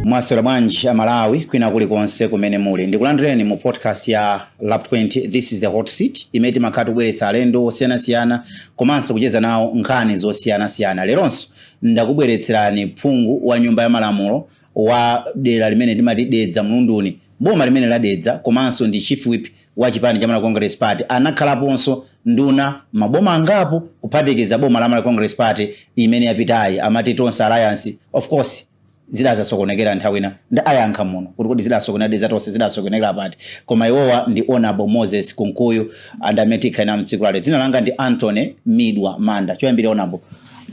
mwaswera bwanji amalawi kwina kulikonse kumene muli ndikulandireni mu podcast ya lab 20 this is the hot seat imene timakhala tikubweretsa alendo osiyanasiyana komanso kucheza nawo nkhani zosiyanasiyana leronso ndakubweretserani phungu wa nyumba ya malamulo wa dera limene limati dedza mlunduni boma limene la dedza komanso ndi chief whip wa chipani cha Malawi Congress Party anakhalaponso nduna maboma angapo kuphatikiza boma la Malawi Congress Party imene yapitayi amati Tonse Alliance of course zidazasokonekera nthawi ina nde ayankha muno kuti kodi zidasokonekera za tonse zidasokonekera pati koma iwowa ndi honorable moses kunkuyu ndimatikana nawo tsiku la lero dzina langa ndi antony midwa manda choyambira honorable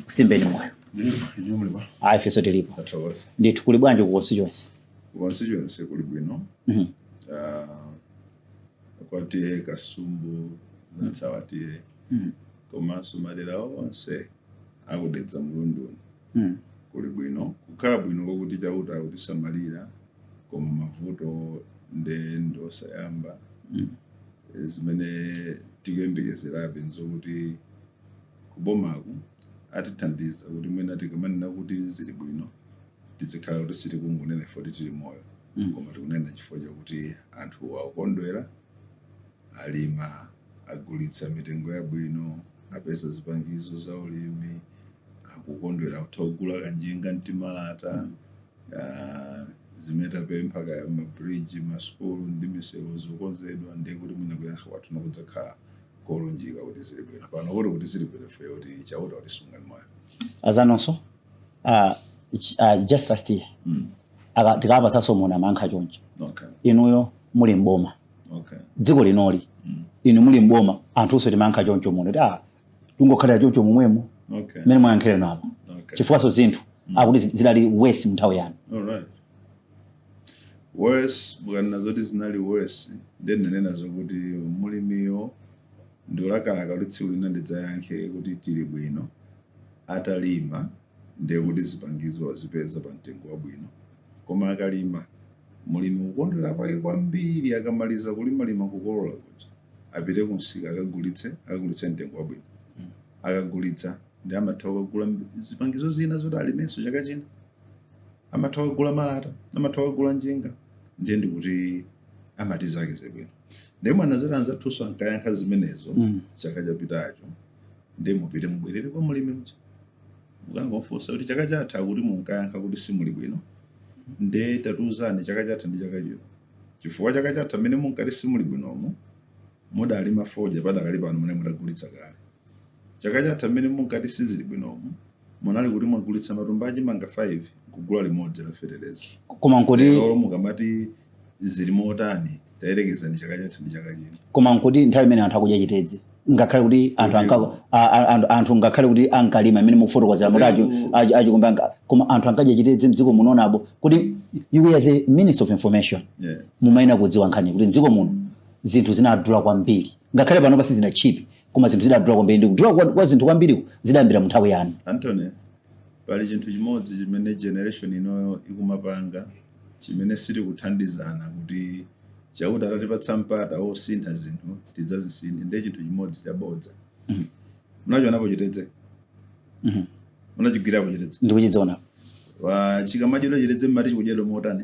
simbeni moyo ayi feso tilipo ndithu kuli bwanji ku constituency constituency kuli bwino Mhm. Ah, kwatiye kasumbu natsawatiye Mhm. komanso madera onse akudedza mlunduni Mhm. kuli bwino kukhala bwino kokuti chauta akutisamalira koma mavuto nde ndi osayamba Mhm. zimene tikuyembekezerabe nzokuti kubomaku atithandiza kuti mwina tikamanena kuti zili bwino tidzikhala kuti sitikungonena foti tili moyo Mm. koma tikunena chifukwa chakuti anthu akukondwera alima agulitsa mitengo yabwino apeza zipangizo za ulimi akukondwera kuti agula kanjinga ndi timalata ah, zimene tapempha kaya mabridge masukulu ndi misewu zokonzedwa ndiye kuti mwina kuyankha kwathu nkudzakhala kolunjika kuti zili bwino pano kuti kuti zili bwino fe ndi kuti chauta akutisungira moyo azanonso ah, ch- ah, just last year Mm. aka- tikawapatsanso moni amayankha choncho Okay. inuyo muli mboma Okay. dziko linoli inu muli mboma anthunso timayankha choncho muno kuti ah, tungokhalira choncho momwemo Okay. mmene mwayankhira inu apa Okay. chifukwanso zinthu akuti zi- zidali worse munthawi yanu All right. Worse, bwana zoti zinali worse. nde ndanena zokuti mulimiyo ndiolakalaka kuti tsiku lina ndidzayankhe kuti tili bwino. atalima ndiye kuti zipangizo wazipeza pa mtengo wabwino koma akalima mulimi kukondwera kwake kwambiri akamaliza kulimalima kukolola kuti apite kumsika akagulitse akagulitse mtengo wabwino akagulitsa ndi amatha kukagula zipangizo zina zoti alimenso chaka china amatha kukagula malata amatha kukagula njinga ndiye ndikuti amati zake zili bwino ndiye mwanena zoti anzathunso ankayankha zimenezo Mm. chaka chapitacho nde mupite mubwerere kwa mlimi uja mukangomufunsa kuti chaka chatha kuti munkayankha kuti simuli bwino nde tatiuzani chaka chatha ndi chaka chino chifukwa chaka chatha mmene munkati simuli bwinomo mudalima foja padakali pano muli mutagulitsa kale chaka chatha mmene munkati sizili bwinomo munali kuti mwagulitsa matumba a chimanga 5 kugula limodzi la fetereza koma nkuti lero mukamati zili motani tayerekezani chaka chatha ndi chaka chino koma nkuti nthawi imene anthu akudya chitedze ngakhale kuti anthu anka- a- a- anthu- anthu ngakhale kuti ankalima imene mukufotokozera muti achi- achi- achikumba anka- koma anthu ankadya chitedze mdziko muno honourable kuti you were the minister of information yeah. mumayenera kudziwa nkhani kuti mdziko muno zinthu zinadula kwambiri ngakhale pano pasi zinachipa koma zinthu zidadula kwambiri ndi kudula kwa, kwa zinthu kwambiriku zidayambira mu nthawi yanu Anthony pali chinthu chimodzi chimene generation inoyo ikumapanga chimene sichikutithandiza kuti chauta atatipatsa mpata wosintha zinthu tidzazisinthe ndiye chinthu chimodzi chabodza Mhm. munachiwonapo chitedze Mhm. munachigwirapo chitedze nkuchidziwa Wa- chikamadyedwa chitedze mmati chikudyedwa motani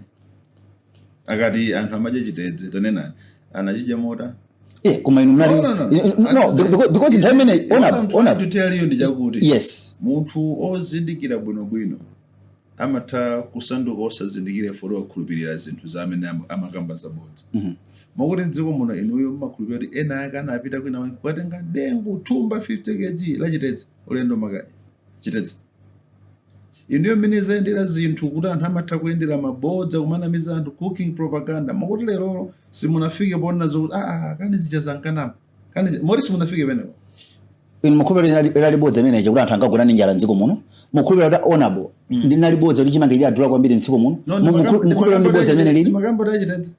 akati anthu amadya chitedze tanenani anachidya motani yeah, koma inu munali No, no, no, no. inu- inu- no Actually, because- because nthawi imene What honourable I'm trying honourable to tell you ndi chakuti yes munthu ozindikira bwinobwino amatha kusanduka osazindikira chifukwa choti wakhulupirira zinthu za amene am- amakamba zabodza Mhm. mwakuti mdziko muno inuyo mmakhulupirira kuti ena ake anapita kwina wake kukatenga dengu thumba 50 kg la chitedze ulendo kukadya chitedze inuyo mmene zayendera zinthu kuti anthu amatha kuyendera mabodza kumanamiza anthu cooking propaganda mokuti lerolo simunafike ponena zokuti aa kani zija ankanama kani zi- moti simunafike penepo inu mukhulupirira linali- linali bodza imeneja kuti anthu angagona ndi njala mdziko muno mukhulupirira kuti honourable linali bodza kuti chimanga chidadula kwambiri mdziko muno No, ndi Mu- makambo- mukhulu- ndi mukhulupirira ndi makambo bodza limene tachi- ndi lili makambo zachitedze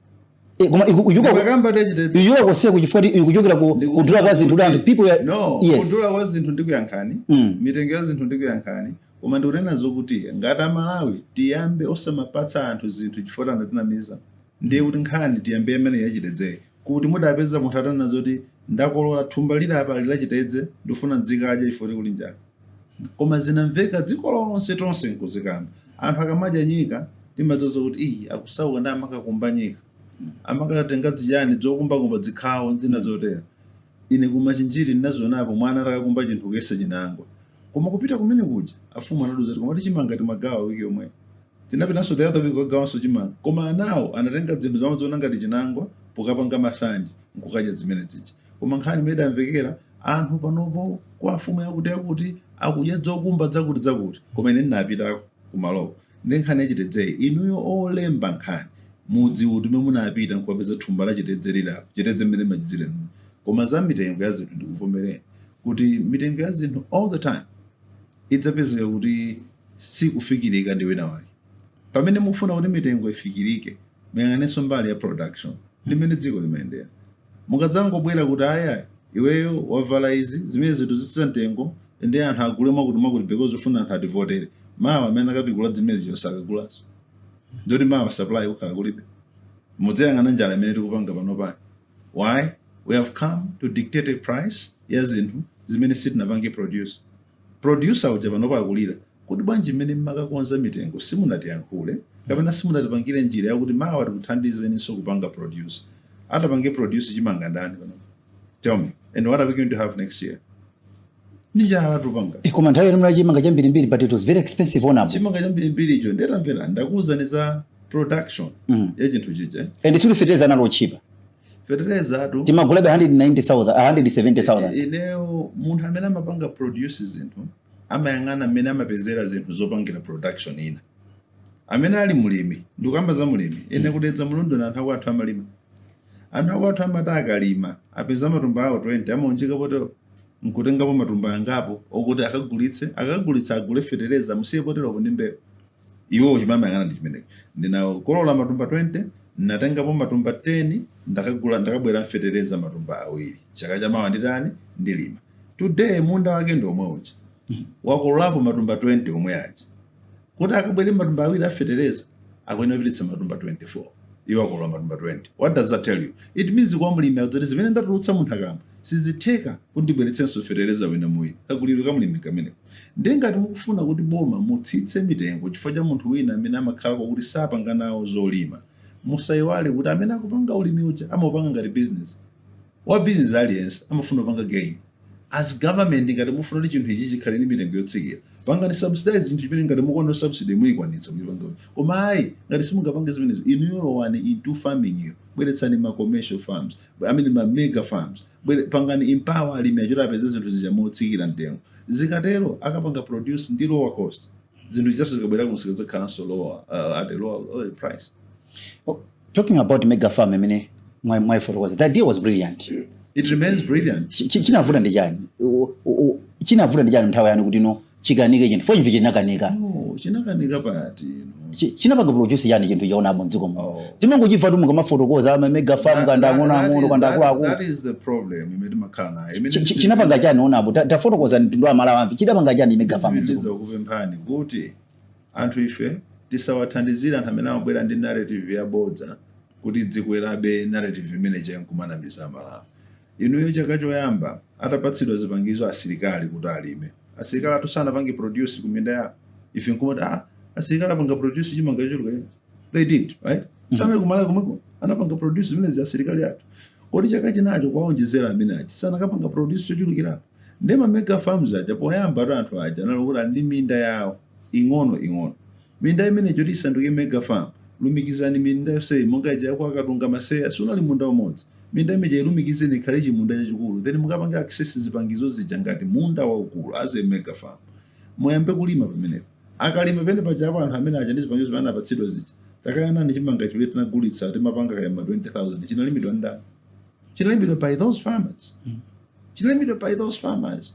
Eh, koma iku- ikuchoka- Ndikukamba zachitedze. ichoka konseku chifukwa choti ikuchokera ku Ndikufuna kudula kwa zinthu kuti kuti- anthu people are- no yes kudula kwa zinthu ndikuyankhani Mm. mitengo ya zinthu ndikuyankhani koma ndikunena zokuti ngati amalawi tiyambe osamapatsa anthu zinthu chifukwa choti adatinamiza ndiye kuti nkhani tiyambe imene yachitedzeyi kuti mudapeza munthu atanena zoti ndakolola thumba lili apa lilachitedze ndifuna nzikadya chifukwa choti kuli njala koma zinamveka dziko lonse tonse nkuzikamba anthu akamadya nyika timadziwa kuti ayi akusauka ndi amakakumba nyika amakatenga zijani dzokumbakumba dzikhawo zina zotera ine kumachinjiri ndinazionapo mwana atakakumba chinthu kuyesa chinangwa koma kupita kumene kuja afumu anatiuza kuti komatu chimanga timagawa wiki yomwe tinapitanso the other week kukagawanso chimanga koma anawo anatenga dzinthu zawo zooneka ngati chinangwa pokapanga masanje nkukadya zimene zija koma nkhani imene idamvekera anthu panopo kwa afumu yakuti yakuti akudya dzokumba dzakuti dzakuti koma ine ndinapitako kumaloko ndi nkhani yachitedzeyi inuyo olemba nkhani mudzi uti umene munapita nkuwapeza thumba la chitedze lili apa chitedze mumachidziwa inu koma za mitengo ya zinthu ndikuvomereni kuti mitengo ya zinthu all the time idzapezeka kuti sikufikirika ndi wina wake Pamene mukufuna kuti mitengo ifikirike, muyang'anenso mbali ya production ndi mmene dziko limayendera. Mukadzangobwera kuti ayi ayi iweyo wavala izi zimene zinthu zitsitsa mtengo nde anthu agule mwakuti mwakuti because ufuna anthu ativotere, mawa amene amakapikula zimeneziyo sakagulanso ndiye kuti mawa supply kukhala kulibe. Mudzayang'ana njala imene tikupanga panopayi why we have come to dictate price ya zinthu zimene sitinapange produce. Producer uja panopa akulira Kuti bwanji mmene mmakakonza mitengo simunatiyankhule kapena simunatipangire njira yakuti mawa tikuthandizeninso kupanga produce? Atapange produce chimanga ndani panopa? Tell me. And what are we going to have next year? Ndi njala tikupanga. Eh, koma nthawi yanu chimanga chambirimbiri but it was very expensive onabo. Chimanga chambirimbiri icho nde tamvera ndakuwuzani za production Mm. ya chinthu chija. eh? and si kuti fertilizer anali otchipa Fertilizer anthu timagulabe 190,000 170,000 ineyo munthu amene amapanga produce zinthu amayang'ana mmene amapezera zinthu zopangira production ina amene ali mulimi ndikukamba za mulimi ine ku Dedza mukundiona anthu akwathu amalima anthu akwathu amati akalima apeza matumba awo 20 amaunjika potero nkutengapo matumba angapo okuti akagulitse akagulitsa agule fetereza musiye poteropo ndi mbeu iwowo chimene amayang'ana ndi chimenecho ndinakolola matumba 20 ndinatengapo matumba 10 ndakagula ndakabwera ndi fetereza matumba awiri chaka chamawa nditani ndilima today munda wake ndi omwe uja wakololapo matumba 20 omwe aja kuti akabwere matumba awiri afetereza akuyenera kupititsa matumba 24 iwo akolola matumba 20 what does that tell you it means kwa mlimi akuti zimene ndatulutsa munthakamo sizitheka kuti ndibweretsenso fetereza wina muone kagulidwe ka mlimi kameneko Ndiye ngati mukufuna kuti boma mutsitse mitengo chifukwa cha munthu wina amene amakhalako kuti sapanga nawo zolima, musaiwale kuti amene akupanga ulimi uja amaupanga ngati business. Wa business aliyense amafuna kupanga gain. As government ngati mufuna kuti chinthu ichi chikhale ndi mitengo yotsikira, pangani subsidize chinthu chimene ngati mukuona subsidy muikwanitsa kuipanga. Koma ayi, ngati simungapange zimenezo, inuyo lowani into farming yo. Bweretsani ma commercial farms, I mean ma mega farms. pangani empower alimi achoti apeze zinthu zija motsikira mtengo zikatero akapanga produce ndi lower cost zinthu zijaso zikabwera kumsika zikakhalanso lower uh, at a lower, lower price Oh, talking about mega farm imene mwa- mwaifotokoza the idea was brilliant it remains brilliant Chi- chi- chinavuta ndi chani U- u- u- chinavuta ndi chani nthawi yanu kuti no chikanike chinthucho chinthu chinakanika no chinakanika pati no. Chi- chinapanga produce chani chinthu cha onabo mdziko muno Oh. timangochimvatu mukamafotokoza amati mega farm That- Nkhanga that- ang'ono that ang'ono is- Nkhanga that- akuluakulu that is the problem imene mumakhala nayo imene Chi- chi- chinapanga chani onabo Ta- tafotokoza mtundu wa Amalawi umve chidapanga chani mega farm mdziko ndizakupemphani kuti anthu ife tisawathandizire anthu amene amabwera ndi narrative yabodza kuti dzikwerabe narrative imene yabodza nkumanamiza Amalawi Inuyo chaka choyamba atapatsidwa zipangizo asilikali kuti alime, asilikali athu sanapange produce ku minda yawo. Ife nkumati ah, asilikali apanga produce chimanga chochuluka chonchi. They did, right? Sinali ku Malawi komweko anapanga produce zimenezi asilikali athu. Kodi chaka chinacho kuwonjezera amene aja sanakapanga produce chochulukirapo. Ndi ma mega farms aja poyamba anthu aja anali kuti ali ndi minda yawo ing'ono ing'ono. Minda imene ija kuti isanduke mega farm lumikizani minda yonseyi monga ija ya kwa Katunga Maseya sunali munda umodzi minda imene ija ilumikizeni ikhale chimunda chachikulu then mukapange access zipangizo zija ngati munda waukulu as a mega farm muyambe kulima pamenepo akalima pamene pajapo anthu amene aja ndi zipangizo zimene anapatsidwa zija takayang'anani chimanga chimene tinagulitsa timapanga kaya ma 20000 chinalimidwa ndani chinalimidwa by those farmers chinalimidwa by those farmers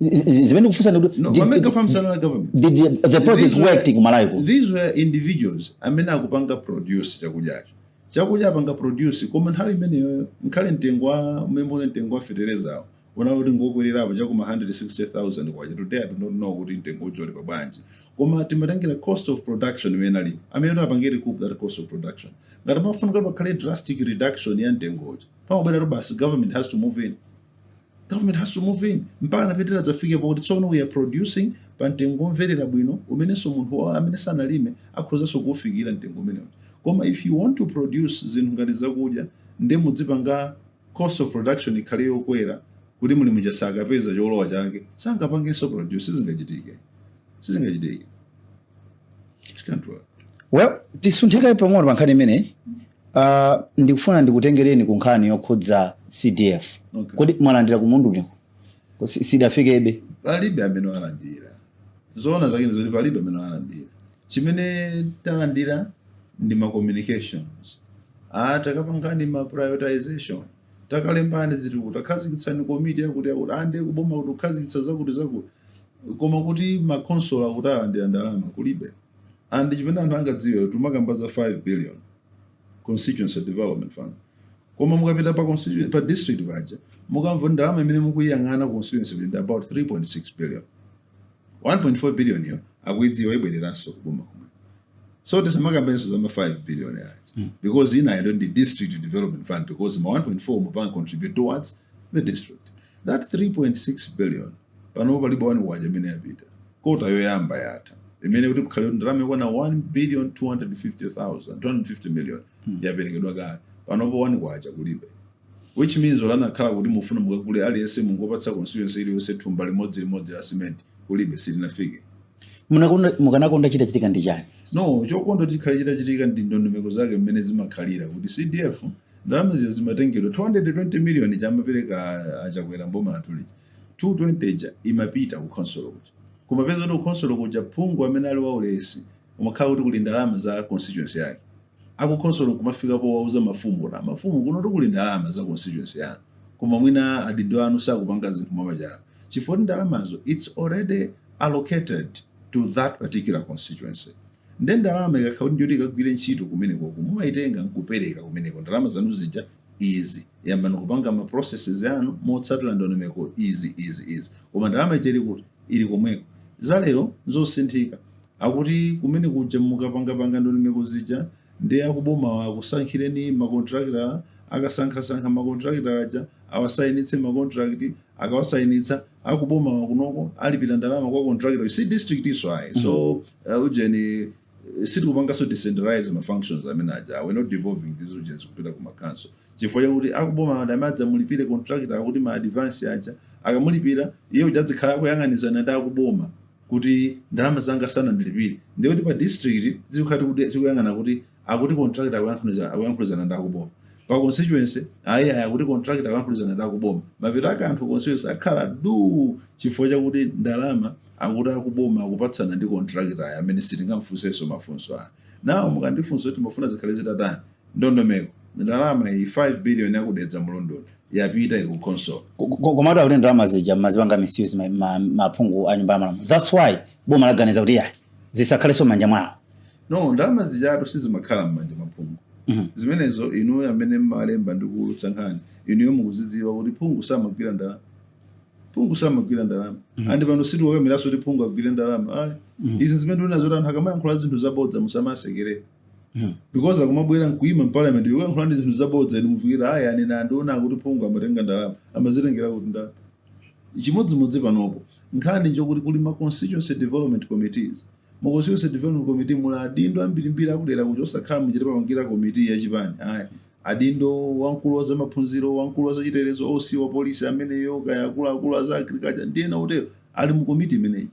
zimene ndikufunsa ndi kuti no did- mamega farms are not government did the, the project These were- worked ku malawi kuno these were individuals amene akupanga produce chakudyacho chakudya apanga produce koma nthawi imeneyo ngakhale mtengo wa umene uli mtengo wa fertilizer munaona kuti ngokwererapo chakuma 160000 kwacha today i do not know kuti mtengo uja uli pabwanji koma timatengera cost of production imene ilipo amene kuti apange recoup that cost of production ngati tikufuna kuti pakhale drastic reduction ya mtengo uja pamabwera poti basi government has to move in government has to move in mpaka napitira adzafike pakuti tsono we are producing pa mtengo womvererera bwino umenenso munthu wa- amene sanalime akhozanso kuufikira mtengo umenewo koma if you want to produce zinthu ngati zakudya nde mudzipanga cost of production ikhale yokwera kuti mlimi uja sakapeza cholowa chake sangapangenso produce sizingachitike sizingachitike well tisunthe kaye pang'ono pa nkhani imeneyi uh, ndikufuna ndikutengereni ku nkhani yokhudza cdf okay. kodi mwalandira ku Mwanduniko sidafikebe palibe amene walandira zoona zake ndizoti palibe amene walandira chimene talandira ndi ma communications ati takapangani ma prioritization takalembani zakutizakuti takhazikitsani komiti yakuti yakuti ande kuboma akuti kukhazikitsa zakuti zakuti koma kuti makhonsolo akuti alandira ndalama kulibe and chimene anthu angadziwe timakamba za 5 billion constituency development fund koma mukapita pa, pa district paja mukamva kuti ndalama imene mukuyiyang'ana ku constituency ndi about 3.6 billion 1.4 billion yo akuidziwa ibwereranso kuboma komwe so tisamakambenso zama 5 billion aja mm. because inayo ndo ndi district development fund because ma 1.4 mukupanga contribute towards the district that 3.6 billion panopo palibe wani kwacha imene yapita kota yoyamba yatha imene ikuti ikhale kuti ndalama yokwana 1 billion 250,000 250 million yaperekedwa kale panopo wani kwacha kulibe Which means olo anakhala kuti mufuna mukagule aliyense mungopatsa constituency iliyonse thumba limodzi limodzi la cement kulibe silinafike. Mukanakonda chitachitika ndi chani? No, chokonda ndi kuti chikhale chitachitika ndi ndondomeko zake mmene zimakhalira kuti CDF ndalama zija zimatengedwa 220 million ija amapereka a Chakwera m'boma lathu lija 220 ija imapita ku khonsolo kuja kumapeza kuti ku khonsolo kuja phungu amene ali waulesi umakhala kuti kuli ndalama za constituency yake akukhonsolo nkumafika powauza mafumu kuti mafumu kuno kuti kuli ndalama za constituency yanu koma mwina adindo anu sakupanga zinthu mwamachawi chifukwa kuti ndalamazo its already allocated to that particular constituency nde ndalama ikakhala kuti ndiyoti ikagwire ntchito kumenekoko mumayitenga nkupereka kumeneko ndalama zanu zija izi yambani kupanga ma processes anu motsatira ndondomeko izi izi izi koma ndalama ija ili kuti ili komweko zalero nzosinthika Akuti kumene kuja mukapangapanga ndondomeko zija nde akubomawa akusankhireni ma contractor, akasankhasankha ma contractor aja awasainitse ma contract, akawasainitsa akubomawa kunoko alipira ndalama kwa contractor si district iyi ayi. So uh, ujeni eh, sitikupanganso decentralize ma functions amene aja we're not devolving these ujeni kupita ku ma council chifukwa chakuti akubomawa ndi amadzamulipira contractor akuti ma advance aja akamulipira iye uja azikhala akuyang'anizana ndi akuboma kuti ndalama zanga sanandilipire ndiye kuti pa district zikukhala tikuti- tikuyang'ana kuti akuti contractor akuyankhulizana akuyankhulizana ndi akuboma pa constituency ayi ayi akuti contractor akuyankhulizana ndi akuboma mapeto ake anthu constituency akhala du chifukwa chakuti ndalama akuti akuboma akupatsana ndi contractor amene sitingamfunsenso mafunso ayi Now mukandifunsa kuti mmafuna zikhale zitatani Ndondomeko, ndalama iyi 5 billion ya ku Dedza Mlunduni yapita ili ku khonsolo. Ko- ko- komatu akuti ndalama zija mmazipanga misuse ma- ma- maphungu a nyumba ya malamulo thats why boma laganiza kuti yayi zisakhalenso m'manja mwawo No, ndalama zijatu sizimakhala m'manja mwa phungu. Mhm. Zimenezo inu amene mmalemba ndi kuulutsa nkhani, inuyo mukuzidziwa kuti phungu samagwira ndalama. Phungu samagwira ndalama. Mhm. And pano sitikukakamiranso kuti phungu agwire ndalama. Ayi. Mhm. Izi zimenezi nazo anthu akamayankhula zinthu zabodza musamasekerera. Hmm. because akumabwera nkuima mparliament nkuyankhula zinthu zabodza inu nkufikira ayi anena ndi zoona akuti phungu amatenga ndalama amazitengera kuti ndalama chimodzimodzi panopo nkhani njokuti kuli ma constituency development committees ma constituency development committee muli adindo ambirimbiri akudera kuti osakhala mwachita kupangira komiti ya chipani ayi adindo wamkulu wa zamaphunziro wamkulu wa zachitetezo OC wa polisi ameneyo kaya akuluakulu a za agriculture ndi ena otero ali mu komiti imeneyi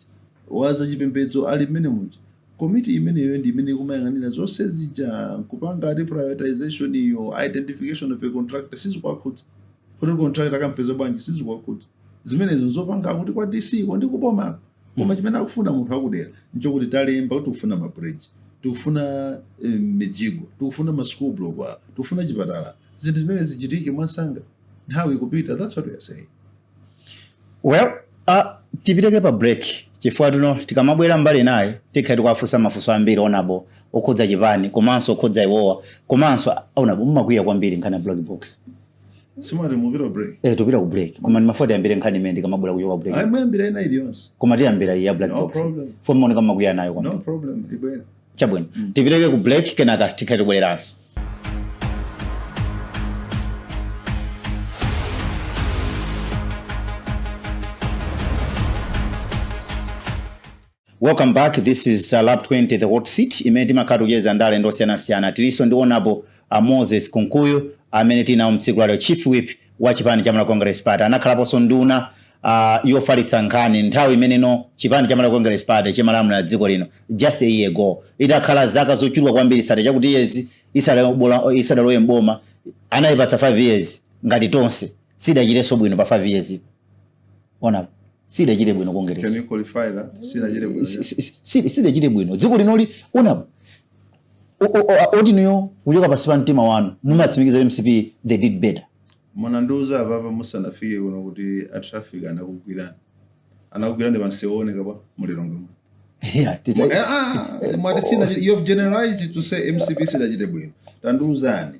wa zachipembedzo ali mmene muja Komiti imeneyo ndi imene ikumayang'anira zonse zija nkupanga ati prioritization iyo identification of a contractor sizikuwakhudza kuti contractor akampeza bwanji sizikuwakhudza zimenezo nzopanga akuti kwa DC-ko ndi kuboma koma chimene akufuna munthu akudera nchokuti talemba kuti tikufuna mabridge tikufuna eh, mijigo tikufuna ma school block, tikufuna chipatala zinthu zimene zichitike mwansanga nthawi ikupita that's what we are saying well uh, tipiteke pa break chifukwa tikuno tikamabwera mbali inayi tikhala tikuwafunsa mafunso ambiri honourable okhudza chipani komanso okhudza iwowa komanso honourable mumakwiya kwambiri nkhani ya black box simati mupita break eh tipita ku break koma ndimafuna tiyambire nkhani imene tikamabwera kuchoka break ayi muyambira ina iliyonse koma tiyambira iyi ya black box. No problem. chifukwa mmaoneka mumakwiya nayo kwambiri no problem ibwera chabwino mm. tipiteke ku break kenaka tikhala tikubwereranso welcome back this is uh, lab 20 the hot seat imene timakhala tikucheza ndale ndi osiyanasiyana tilinso ndi honourable a uh, moses kunkuyu amene tinawo mtsiku lalero chief whip wa chipani cha Malawi Congress Party anakhalaponso nduna uh, yofalitsa nkhani nthawi imeneno chipani cha Malawi Congress Party chimalamula dziko lino just a year ago itakhala zaka zochuluka kwambiri sate chakuti yezi isadalowa- isadalowe mboma anayipatsa 5 years ngati tonse sidachitenso bwino pa 5 years iyo honourable sidachite bwino kongeresi Can you qualify that? Sinachite bwanji? Si- si- si- sidachite bwino dziko linoli honourable oti inuyo kuchoka pansi pa mtima wanu mumatsimikiza mcp they did better munandiuza apapa musanafike kuno kuti a traffic anakugwirani anakugwirani pamsewu neka pa mu Lilongwe muno yeah, tisa, Eh, ah, mwati sina- you have generalized to say mcp sidachite bwino tandiuzani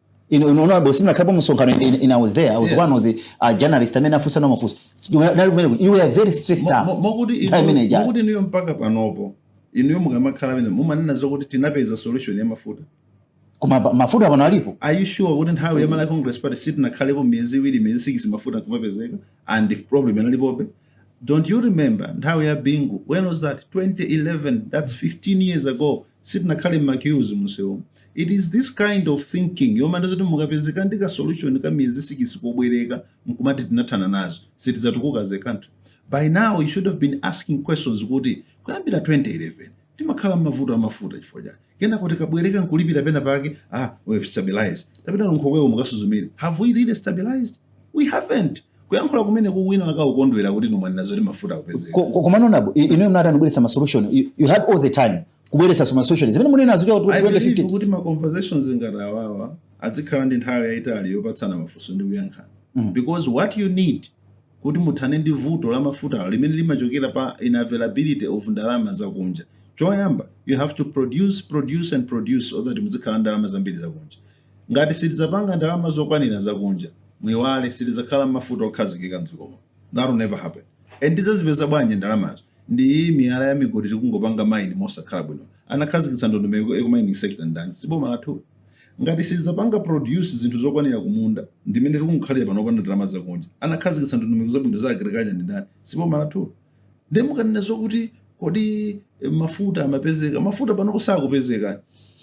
In, in, in, in, sinakhalepo msonkhano in, in, I was there I was yeah. one of the uh, journalists amene anafunsako mafunso you were very stressed out moti moti inuyo mpaka panopo inuyo mukamakhala pena mumanena zokuti tinapeza solution ya mafuta koma mafuta pano alipo are you sure kuti nthawi mm. ya Malawi congress party sitinakhalepo miyezi iwiri miyezi sikisi mafuta kumapezeka and problem inalipobe don't you remember nthawi ya bingu when was that 2011 that's 15 years ago sitinakhale mma queues mumsewumu it is this kind of thinking yomati zoti mukapezeka ndi ka solution ka miyezi sikisi kobwereka mkumati tinathana nazo sitidzatukuka as a country by now you should have been asking questions kuti kuyambira 2011 timakhala mmavuto amafuta chifukwa chake kena kuti kabwereka nkulipira pena pake ah we have stabilized tapitani munkhokwemo mukasuzumire have we really stabilized we haven't kuyankhula kumene kuwina akukondwera kuti ndi mwanena zoti mafuta akupezeka Ko- ko- komano nawo i- inu munati mubweretsa masolution you, you had all the time kubweretsa some masolution zimene munenazi koma kuti I believe 2015 kuti ma conversations ngati awawa azikhala ndi nthawi yayitali yopatsana mafunso ndi kuyankhana Mm. because what you need kuti muthane ndi vuto la mafuta limene limachokera pa unavailability of ndalama zakunja choyamba you have to produce produce and produce so that muzikhala ndalama zambiri zakunja Ngati sitidzapanga ndalama zokwanira zakunja, muiwale sitidzakhala mafuta okhazikika mdziko muno. That will never happen. And tidzazipeza bwanji ndalamazo? Ndi iyi miyala ya migodi tikungopanga mine mosakhala bwino. Anakhazikitsa ndondomeko ya ku mining sector ndani? Si boma lathu. Ngati sitidzapanga produce zinthu zokwanira kumunda, ndimene tikungokhalira pano opanda ndalama zakunja. Anakhazikitsa ndondomeko zabwino za agriculture ndi ndani? Si boma lathu. ndiye mukanena zokuti kodi eh, mafuta amapezeka mafuta panopo sakupezeka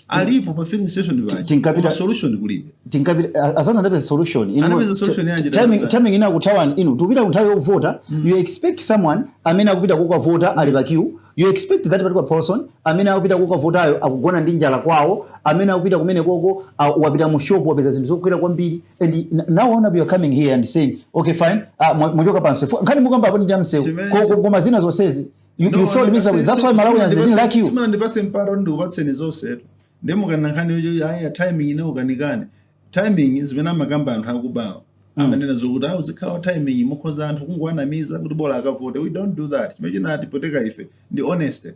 alipo pa filling station paja. tinkapita- Koma solution kulibe tinkapita azana anapeza solution Inu- Anapeza solution ti- yanji, timing- Dr. timing ina ikuthawani inu tikupita ku nthawi yovota you expect someone amene akupita kokavota ali pa queue you expect that particular person amene akupita kokavotayo akugona ndi njala kwawo amene akupita kumene koko a- wapita mu shop wapeza zinthu zokwera kwambiri and n- now none of you are coming here and saying okay fine ah, mwa- mwachoka pansi Fo- nkhani mukamba apo ndi amsewu Chimene- Ko- ko- koma zina zonsezi you, you failed miserably that's why malawians they didn't like you simuna ndipatse mpata ndikupatseni zonse ndiye mukanena nkhani yoti aya timing inakukanikani timing zimene amakamba anthu akubawo amanena zokuti uzikhala timing mukhoza anthu kungowanamiza kuti bola akavote we don't do that chimene chinatipoteka ife ndi honesty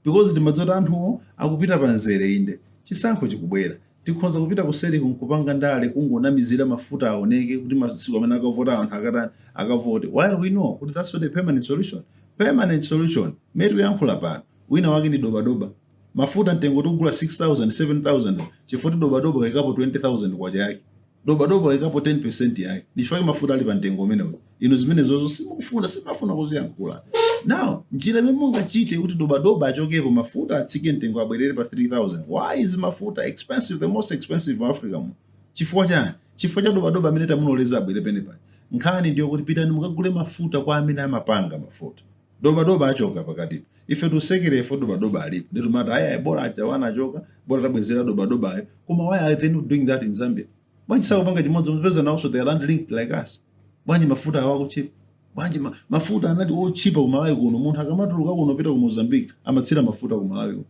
because timadziwa zoti anthuwo akupita pa mzere inde chisankho chikubwera Tikhonza kupita kuseriko nkupanga ndale kungonamizira mafuta awoneke kuti masiku amene akavotawo anthu akatani akavote while we know kuti that's not a permanent solution. Permanent solution imene tikuyankhula pano wina wake ndi dobadoba mafuta mtengo tikugula 6000, 7000 chifukwa kuti dobadoba waikapo 2000 kwacha yake. Dobadoba waikapo 10% yake ndichifukwa chake mafuta ali pa mtengo umenewo inu zimenezozo simukufuna simafuna kuziyankhula now njira imene mungachite kuti dobadoba achokepo mafuta atsike mtengo abwerere pa 3000 why is mafuta expensive the most expensive mu africa muno chifukwa chani chifukwa cha dobadoba amene tamuloleza abwere penepa nkhani ndiyo kuti pitani mukagule mafuta kwa amene amapanga mafuta doba doba achoka pakatipo ife tikusekerera ife doba doba alipo ndi tumati aya bola achawana achoka bola tabwezera doba doba ayo koma why are they not doing that in Zambia bwanji sakupanga chimodzimodzi mupeza nawonso they are land linked like us bwanji mafuta awo akuchipa bwanji ma, mafuta anali ochipa ku Malawi kuno munthu akamatuluka kuno pita ku Mozambique amatsira mafuta ku Malawi kuno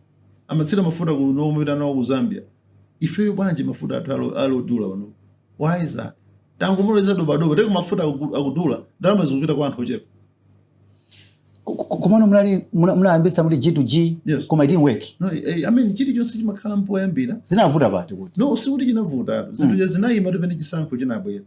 amatsira mafuta kuno kupita nawo ku Zambia ifeyo bwanji mafuta athu ali ali odula pano why is that tangomuloleza doba doba tero mafuta aku- akudula ndalama zikupita kwa anthu ochepa komano munali muna- munayambisa kuti g to g Yes. koma it didn't work no, eh, I mean, chilichonse chimakhala mpoyambira zinavuta pati kuti no sikuti chinavuta zinthu ja zinayima pamene chisankho chinabwera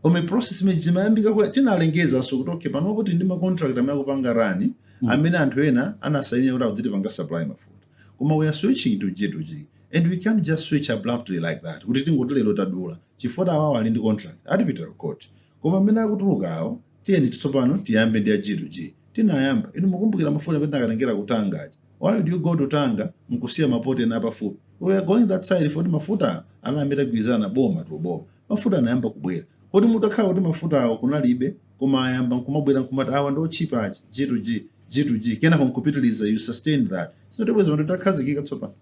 ome process imene imayambika kwa tinalengezanso kuti okay pano kuti ndi macontract amene akupanga rani amene anthu ena anasainira kuti adzitipanga supply mafuta koma we are switching to g2g and we can't just switch abruptly like that kuti tingoti lero tadula chifukwa awawo ali ndi contract atipitira ku court Koma amene akutulukawo, tiyeni tsopano tiyambe ndi G to G. Tinayamba, inu mukumbukira mafuta amene tinakatengera ku Tanga aja? Why would you go to Tanga nkusiya ma port ena apafupi? We were going that side chifukwa kuti mafuta anali amene tagwirizana boma to boma. Mafuta anayamba kubwera. Kodi mutakhala kuti mafutawo kunalibe koma ayamba nkumabwera nkumati awa ndi otchipa aja, G to G, G to G, kenako nkupitiriza you sustain that. Si bwenzi pano titi takhazikika tsopano.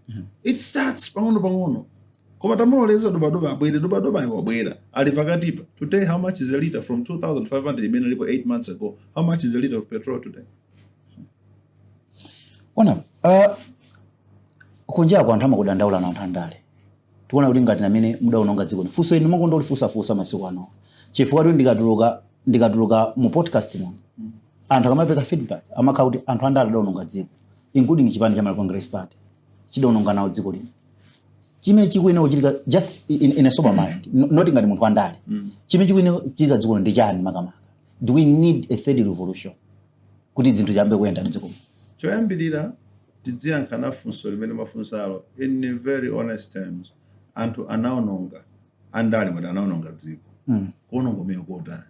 Mhm. it starts pang'ono pang'ono koma tamuloleza dobadoba abwere dobadobayo wabwera ali pakatipa today how much is a liter from 2500 imene inalipo 8 months ago how much is a liter of petrol today ona uh, kunjako anthu amakudandaula na anthu andale tikuona kuti ngati ndi amene mudaononga dziko funso ine ndikungolifunsafunsa masiku ano chifukwa kuti ndikatuluka ndikatuluka mu podcast muno anthu akamapereka feedback amakhala kuti anthu andale adaononga dziko including chipani cha Malawi Congress Party chidaononga nawo dziko lino chimene chikuyenera kuchitika just in, in a sober mind no- not ngati munthu wandale chimene chikuyenera kuchitika dziko lino ndi chani makamaka do we need a third revolution kuti zinthu ziyambe kuyenda mdziko muno choyambirira tidziyankhana funso limene mwafunsalo in very honest terms anthu anaononga andale mwati anaononga dziko Mm. kuononga umene kotani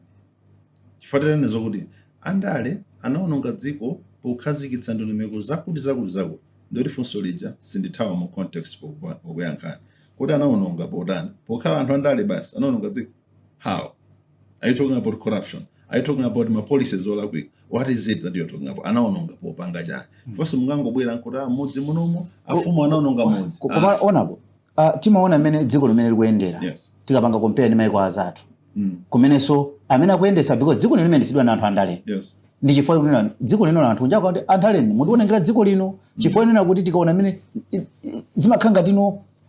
chifukwa tanena zokuti andale anaononga dziko pokhazikitsa ndondomeko zakuti zakuti zakuti nditi funso lija sindithawa mu context pokupa- pokuyankhani kuti anaononga potani pokhala anthu andale basi anaononga dziko how are you talking about corruption are you talking about ma policies olakwika what is it that you are talking about anaononga popanga chani chifukwa simungangobwera nkuti ah, mudzi munomo afumu anaononga mudzi Ko- Ah, koma onapo uh, timaona mmene dziko limene likuyendera yes. tikapanga compare ndi maiko anzathu mm. kumenenso amene akuyendesa because dziko lino limayendetsedwa na anthu andale yes ndi chifukwa kunena dziko lino anthu kunjaku akuti andaleni mwationongera dziko lino chifukwa kunena kuti tikaona mene zimakhala ngati ndi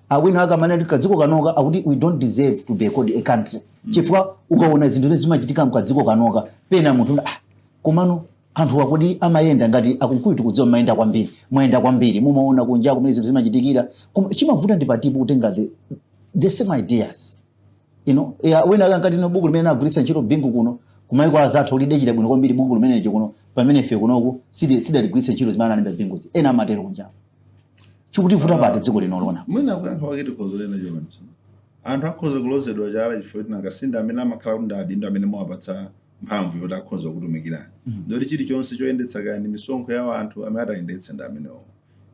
awina akamana kadziko kanoka akuti we don't deserve to be called a country mm. chifukwa ukaona zinthu zimene zimachitika mkadziko kanoka pena munthu ah komano anthuwa kodi amayenda ngati a Kunkuyu tikudziwa mmayenda kwambiri mwayenda kwambiri mumaona kunja kumene zinthu zimachitikira koma chimavuta ndi patipo kutenga the, the same ideas you know ya wena akamati no buku limene anagwiritsa ntchito bingu kuno kumayiko anzathu lidachita bwino kwambiri buku limenecho kuno pamene ife kunoku sidi- sidaligwiritse ntchito zimene analemba binguzi ena amatero kunja chikutivuta pati dziko lino ona mwina kuyankha kwake tikhoza kunena chonchi anthu akhoza kulozedwa chala chifukwa ti nanga si ndi amene amakhala kuti ndi adindo amene mwawapatsa mphamvu yoti akhoza kutumikirani Mhm. ndi oti chilichonse choyendetsa kaya ndi misonkho ya anthu amene atayendetse ndi amenewo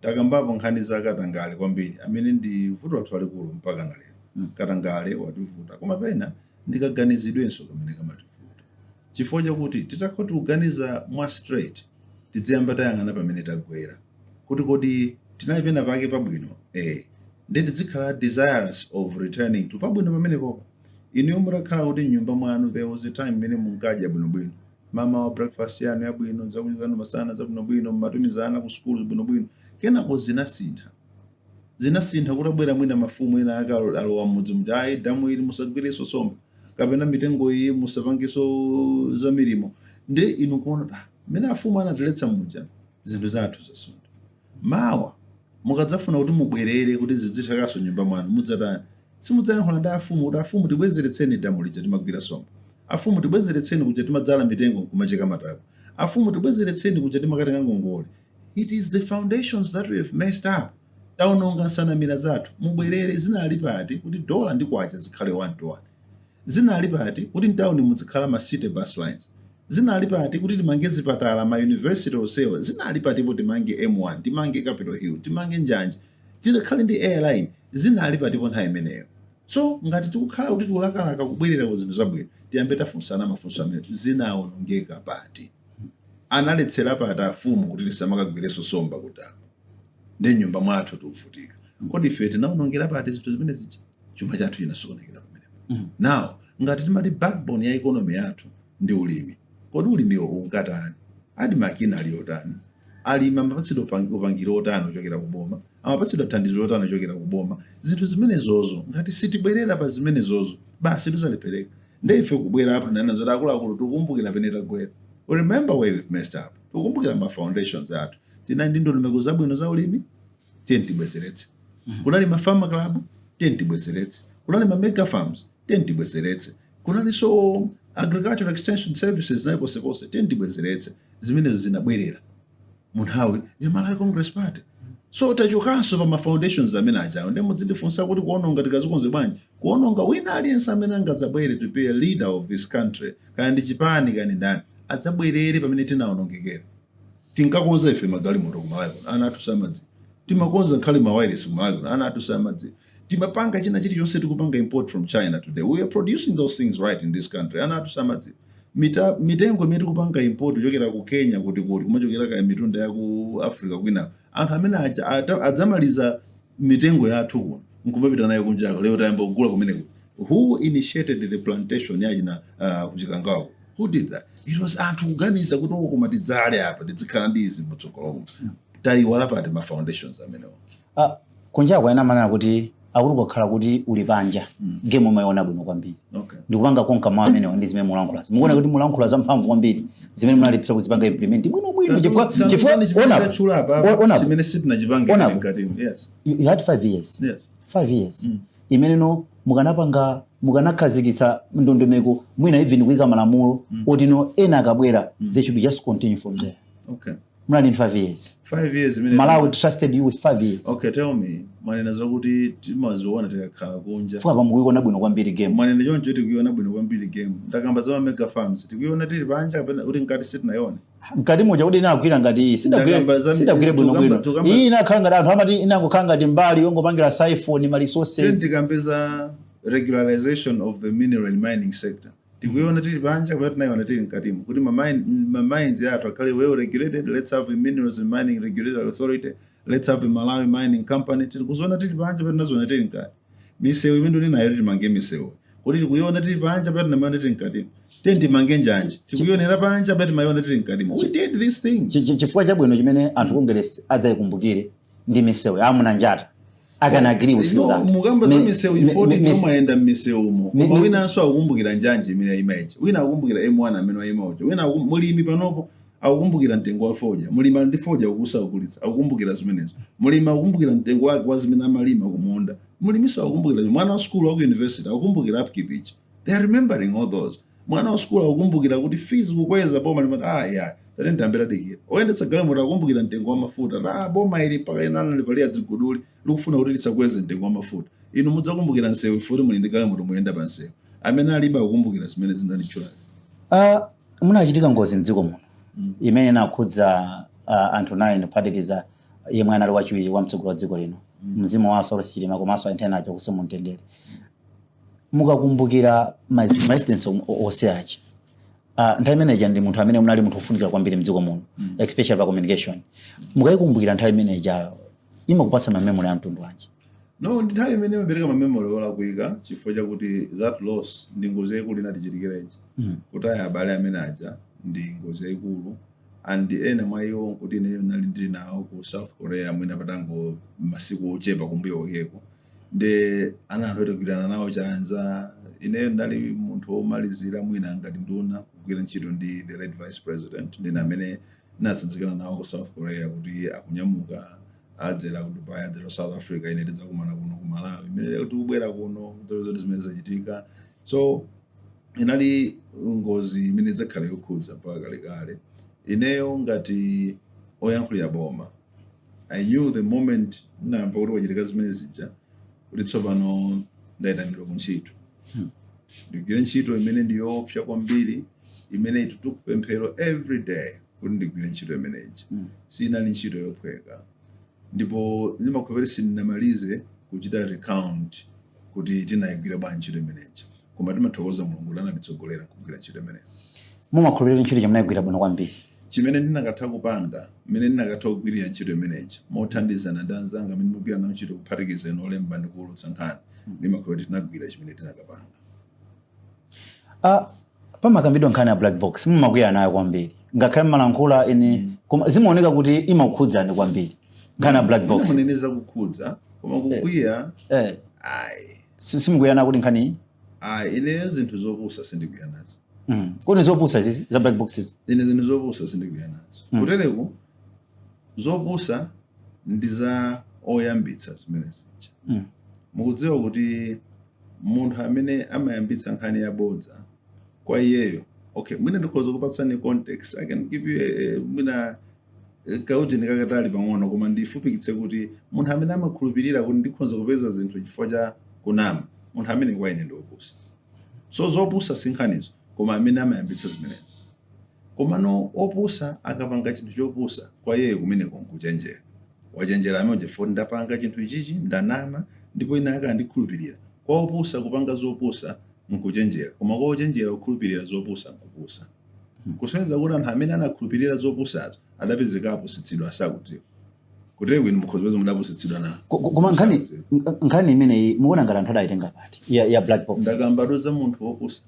takambapo nkhani za katangale kwambiri amene ndi vuto lathu lalikulu mpaka na lero Mm. katangale wativuta koma pena ndikaganizidwenso kumene kamativuta chifukwa chakuti titakhala tikuganiza mwa straight tidziyamba tayang'ana pamene tagwera kuti kodi tinali pena pake pabwino eh nde tidzikhala desirous of returning to pabwino pamenepo inuyo mutakhala kuti mnyumba mwanu there was a time imene munkadya bwinobwino mmamawa breakfast yanu yabwino zakudya zanu masana zabwinobwino mmatumiza ana ku sukulu bwinobwino kenako zinasintha zinasintha kuti abwera mwina mafumu ena ake alo- alowa mmudzi nkuti ayi damu iri musagwirenso nsomba kapena mitengo iyi musapangenso za milimo ndiye inu kuona "Ah, mmene afumu anatiletsa muja zinthu zathu zasintha Mawa mukadzafuna kuti mubwerere kuti zidzithekaso mnyumba mwanu mudzatani? Simudzayankhula ndi afumu kuti afumu tibwezeretseni damu lija timagwira nsomba, afumu tibwezeretseni kuja timadzala mitengo nkumacheka matabwa, afumu tibwezeretseni kuja timakatenga ngongole. It is the foundations that we have messed up. Taononga nsanamira zathu. Mubwerere zinali pati kuti dollar ndi kwacha zikhale 1 to 1? Zinali pati kuti mtauni mudzikhala ma city bus lines? Zinali pati kuti timange zipatala ma university onsewa zinali patipo timange m1 timange capital hill timange njanje tikhale ndi airline zinali patipo nthawi imeneyo so ngati tikukhala kuti tikulakalaka kubwerera ku zinthu zabwino tiyambe tafunsana mafunso amene zinaonongeka pati analetsera pati afumu kuti tisamakagwireso nsomba kudala ndi mnyumba mwathu tikuvutika kodi ife tinaonongera pati zinthu zimene zija chuma chathu chinasokonekera pamenepo mm. now ngati timati backbone ya economy yathu ndi ulimi kodi ulimiwo unkatani admarc inali yotani alimi amapatsidwa upangiri otani ochokera kuboma amapatsidwa thandizo lotani lochokera kuboma zinthu zimenezozo ngati sitibwerera pa zimenezozo basi tizalephereka nde ife kubwera apo tinanena zoti akuluakulu tikumbukire pamene tagwera remember where we've messed up tikumbukire ma foundations athu tinali ndi ndondomeko zabwino za ulimi tiyeni tibwezeretse mhm. kunali ma farmer club tiyeni tibwezeretse kunali ma mega farms tiyeni tibwezeretse kunalinso agricultural extension services zinali konsekonse tiyeni tibwezeretse zimenezo zinabwerera mu nthawi ya malawi congress party so tachokanso pa mafoundations amene ajawo nde mudzidzifunsa kuti kuononga tikazikonze bwanji kuononga wina aliyense amene angadzabwere to be a leader of this country kaya ndi chipani kaya ndi ndani adzabwerere pamene tinaonongekera Tinkakonza ife magalimoto ku Malawi kuno, ana athu samadziwa. Timakonza nkhale ma wireless ku Malawi kuno, ana athu samadziwa. Timapanga china chilichonse tikupanga import from China today. We were producing those things right in this country. Ana athu samadziwa. Mita, mitengo imene tikupanga import kuchokera ku Kenya kuti kuti kumachokera kaya mitunda ya ku Africa kwina. Anthu amene aja ata- adzamaliza mitengo yathu kuno nkumapita nayo kunjako lero tayamba kugula kumeneko who initiated the plantation yachina uh, kuchikangawo who did that it was anthu kuganiza kuti uko koma tidzale apa tidzikhala ndi izi mutsogolomo tayiwala poti ma foundations amenewo Ah, kunjaku ena amanena kuti akuti ukakhala kuti uli panja Mm. game umayiona bwino kwambiri okay ndikupanga konka mawu amenewa ndi zimene mulankhulazi mukuona kuti mulankhula zamphamvu kwambiri zimene munalephera kuzipanga implement bwino bwino chifukwa chifukwa ona chula apa Ona- ona- chimene sitinachipange ona- mkati yes you you had 5 years yes five years Mm. imene no mukanapanga mukanakhazikitsa ndondomeko mwina even kuika malamulo Mm. oti no ena akabwera Mm. they should just continue from there okay munali ndi 5 years 5 years imene malawi trusted you with 5 years okay tell me mwanena zokuti timaziona tikakhala kunja fuka pamukuiona bwino kwambiri game mwanena choncho tikuiona bwino kwambiri game ndakamba za mega farms tikuiona tili panja kapena kuti mkati sitinaione mkati muja kuti inagwira ngati iyi sidagwire Ndakamba za- sidagwire bwino tukamba- bwino tukamba- iyi inakhala ngati anthu amati inangokhala ngati mbali yongopangira siphon ma resources tizikamba za regularization of the mineral and mining sector tikuiona tili panja kapena tinaiona tili mkatimo kuti ma mine- ma mines athu akhale well regulated let's have a minerals and mining regulatory authority let's have a malawi mining company tikuziona tili panja kapena tinaziona tili mkati misewu imene tinayo timange misewu kuti tikuiona tili panja kapena tinaiona tili mkatimo tiyeni timange njanje tikuionera panja kapena timaiona tili mkatimo we did this thing Chi- chi- chifukwa chabwino chimene anthu kongeresi adzayikumbukire ndi misewu ya amuna njata I can agree with you Ino, that. mukamba za Mi- misewu mi- if at mi- mi- ndinu mayenda mmisewumo mi- koma mi- winanso akukumbukira njanje imene ayima ija wina akukumbukira m1 amene wayima uja wina aku- mulimi panopo akukumbukira mtengo wa fodya mulimi ali ndi fodya akusowa kugulitsa akukumbukira zimenezo mulimi akukumbukira mtengo wake wa zimene amalima kumunda muliminso akukumbukira mwana wa sukulu wa ku yunivesiti akukumbukira upkeep ichi they are remembering all those mwana wa sukulu akukumbukira kuti fees kukweza boma limati ah ya tati tiyambe tadikira oyendetsa galimoto akukumbukira mtengo wa mafuta kuti ah boma ili mpaka ena analivalia dziguduli likufuna kuti lisakweze mtengo wa mafuta inu mudzakumbukira msewu if at muli ndi galimoto muyenda pa msewu amene alibe akukumbukira zimene ndinatchulazi Uh, munachitika ngozi mdziko muno Mm. imene inakhudza uh, anthu 9 kuphatikiza yemwe anali wachiwiri wa mtsogoleri wa dziko lino Mm. mzimu wa Saulos Chilima komanso anthu ena aja uwuse mu mtendere mukakumbukira mas- maresidents om- o- onse aja uh, nthawi imeneja ndi munthu amene munali munthu ofunikira kwambiri mdziko muno mm. especially pa communication mukayikumbukira nthawi imeneja imakupatsa mamemori a mtundu wanji no ndi nthawi imene imapereka mamemori olakwika chifukwa chakuti that loss ndi ngozi yayikulu inatichitikira ija Mm. kutaya abale amene aja ndi ngozi yayikulu and ena mwa iwo nkuti ineyo nali ndili nawo ku south korea mwina patango masiku ochepa kumbuyo kwakeko nde anthu oti agwirana nawo chanza ineyo ndali munthu womalizira mwina ngati nduna kugwira ntchito ndi the late vice president ndine amene ndinatsanzikana nawo ku south korea kuti akunyamuka adzera ku dubai adzera ku south africa ine tidzakumana kuno ku malawi imene tikubwera kuno zoti zimene zachitika so inali ngozi imene idzakhale yokhudza mpaka kalekale ineyo ngati oyankhulira boma I knew the moment ndinamva kuti wachitika zimene zija kuti tsopano ndayitanidwa ku ntchito ndigwire ntchito imene ndi yoopsa kwambiri imene itutu kupemphero every day kuti ndigwire ntchito imeneyi Mm. sinali ntchito yophweka ndipo ndimakhulupirira sindinamalize kuchita recount kuti tinayigwira bwanji ntchito imeneyi koma timathokoza mulungu kuti anatitsogolera kugwira ntchito imeneyo mumakhulupirira ntchito imene munaigwira bwino kwambiri chimene ndinakatha kupanga mmene ndinakatha kugwirira ntchito imeneyi mothandizana ndi anzanga amene ndimagwira nawo ntchito kuphatikiza inu olemba ndi kuulutsa nkhani ndimakhulupirira kuti tinagwira chimene tinakapanga Ah, pamakambidwa nkhani ya black box mumakwiya nayo kwambiri ngakhale mmalankhula ine koma zimaoneka kuti imakukhudzani kwambiri nkhani ya black box muneneza kukhudza koma kukwiya eh ayi Si- simukwiya nayo kodi nkhani ah ineyo zinthu zopusa sindikwiya nazo mm. kodi zopusa izizi za black boxes ine zinthu zopusa sindikwiya nazo Mm. kutereko zopusa ndi za oyambitsa zimene zija Mm. mukudziwa kuti munthu amene amayambitsa nkhani yabodza kwa iyeyo okay mwina ndikhoza kupatsani context i can give you a, a, mwina kaujeni ndi kakatali pang'ono koma ndifupikitse kuti munthu amene amakhulupirira kuti ndikhonza kupeza zinthu chifukwa cha kunama munthu amene kwa ine ndi wopusa so zopusa sinkhanizo koma amene amayambitsa zimenezi komano opusa akapanga chinthu chopusa kwa iyeyo kumeneko nkuchenjera wachenjera amene chifukwa ndapanga chinthu ichichi ndanama ndipo ena akandikhulupirira kwa opusa kupanga zopusa nkuchenjera koma kwa ochenjera kukhulupirira zopusa nkupusa kusonyeza kuti anthu amene anakhulupirira zopusazo adapezeka apusitsidwa asakudziwa kutereko inu mukhoza kupezeka mudapusitsidwa na Ko- ko- koma nkhani Osakudziwa. nk- nkhani imeneyi mukuona ngati anthu adayitenga pati ya, ya black box ndakamba do za munthu wopusa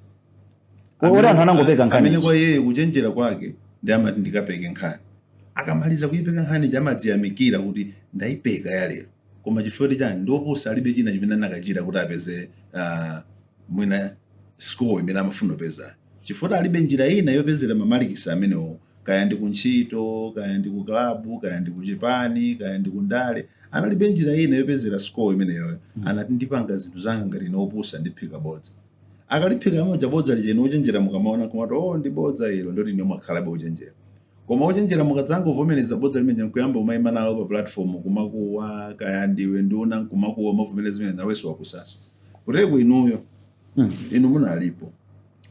oti anthu anangopeka nkhani amene kwa iyeyo kuchenjera kwake ndi amati ndikapeke nkhani akamaliza kuipeka nkhani ija amadziyamikira kuti ndaipeka ya lero koma chifukwa chani ndiopusa alibe china chimene anakachita kuti apeze ah, mwina score imene amafuna kupeza chifukwa alibe njira ina yopezera mamalikisi amenewo kaya ndi kuntchito kaya ndi kuklabu kaya ndi kuchipani kaya ndi kundale analibe njira ina yopezera score imeneyoyo mm. anati ndipanga zinthu zanga ngati ine opusa ndiphika bodza akaliphika muja bodza lija inu ochenjera mukamaona kumati o oh, ndi bodza ilo nde kuti inu mwakhalabe ochenjera koma ochenjera mukadzangovomereza bodza limene nkuyamba kumayima nalo pa platform kumakuwa kaya ndiwe nduna nkumakuwa kumavomereza zimene nawenso wapusaso kutereku inuyo Hmm, inu munalipo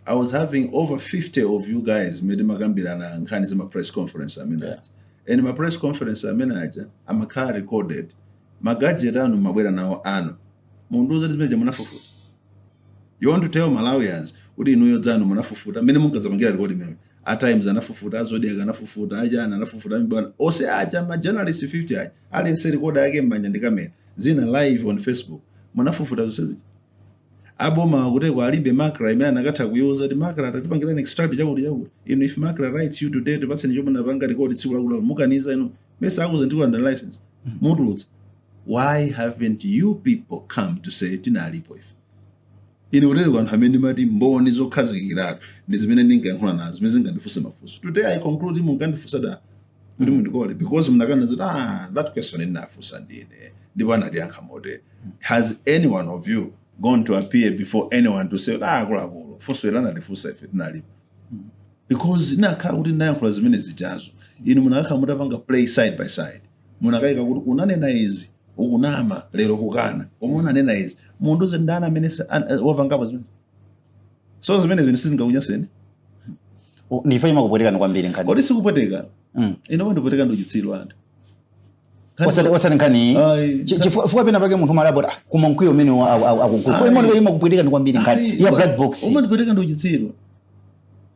i was having over 50 of you guys mmene makambirana nkhani za ma press conference amene Yeah. aja and ma press conference amene aja amakhala recorded magadget anu mumabwera nawo anu mundiuza kuti zimene zija munafufuta you want to tell malawians kuti inuyo zanu munafufuta mmene munkadzapangira rekodi meme a times anafufuta a zodiak anafufuta achana anafufuta a mibawa onse aja ma journalist 50 aja aliyense rekodi yake mmanja ndi kamera zina live on facebook munafufuta zonsezi aboma kutereku alibe macra imene anakatha kuiuza kuti macra tatipangirani extract chakuti chakuti even if macra writes you today tipatseni chomwe munapanga rekodi tsiku lakutilakuti mukaniza inu mesa akuuzani tikulandani license mutulutsa why haven't you people come to say tinalipo ife ine kutereku anthu amene ndimati mboni zokhazikiratu ndi zimene ndinkayankhula nazo zimene zinkandifunsa mafunso today i conclude munkandifunsa da kuti mm. mundikole because munakanena zoti ah, that question ndinafunsa ndine ndipo anatiyankha mote has any one of you gone to appear before anyone to say ah, akuluakulu funso ilo analifunsa ife tinalipo mm. because inakakhala kuti ndinayankhula zimene zijazo inu munakakhala mutapanga play side by side munakayika kuti unanena izi ukunama lero ukukana koma unanena izi mundiuze ndani amene wapangapo zimene so zimenezi inu sizingakunyanseni O, ndife imakupwetekani kwambiri nkhani kodi sikupweteka Mm. ine umandipweteka ndi uchitsiru wa anthu Osati- osati nkhani iyi. Ayi. Chi- chifukwa chifukwa pena pake munthu umadabwa ah, koma mkwiyo umene wa- wa- wa- akugula Ayi. koma imene imakupwetekani kwambiri nkhani ya black box umandipweteka ndi uchitsiru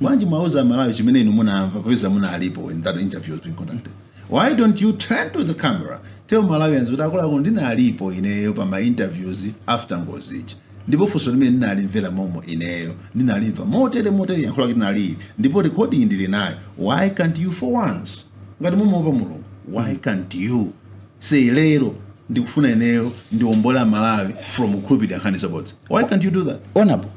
Bwanji muwauze amalawi chimene inu munamva popeza munalipo when that interview was being conducted. Why don't you turn to the camera tell Malawians kuti akuluakulu ndinalipo ineyo pa ma interviews after ngozi ija. Ndipo funso limene ndinalimvera momo ineyo ndinalimva motere motere yankho lake nali ndipo recording ndili nayo. Why can't you for once? Ngati mumaopa Mulungu, why can't you say lero ndikufuna ineyo ndiombola Malawi from kukhulupirira nkhani zabodza. Why can't you do that? Honorable,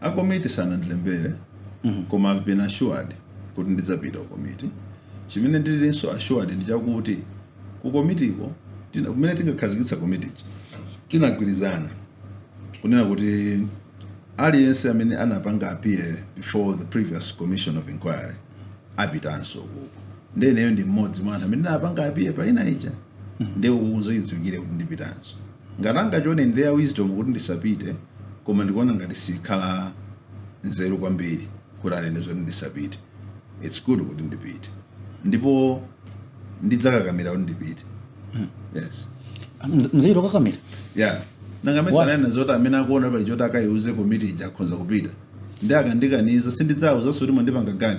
akomiti sanandilembere koma i've been assured kuti ndidzapita ku komiti chimene ndilinso assured ndi chakuti ku komitiko tina- kumene tinkakhazikitsa komitiyi tinagwirizana kunena kuti aliyense amene anapanga appear before the previous commission of inquiry apitanso kuko nde ineyo ndi mmodzi mwa anthu amene anapanga appear pa ina ija ndiye kuzidziwikire kuti ndipitanso ngati angachione in their wisdom kuti ndisapite koma ndikuona ngati sikhala nzeru kwambiri kuti anene zoti ndisapite its good kuti ndipite ndipo ndidzakakamira kuti ndipite yes Mz- mzere wakakamira yeah nanga mesa Why? ananena zoti amene akuona pali choti akaiuze komiti ija akhonza kupita ndi akandikaniza sindidzauzanso kuti mwandipanga gag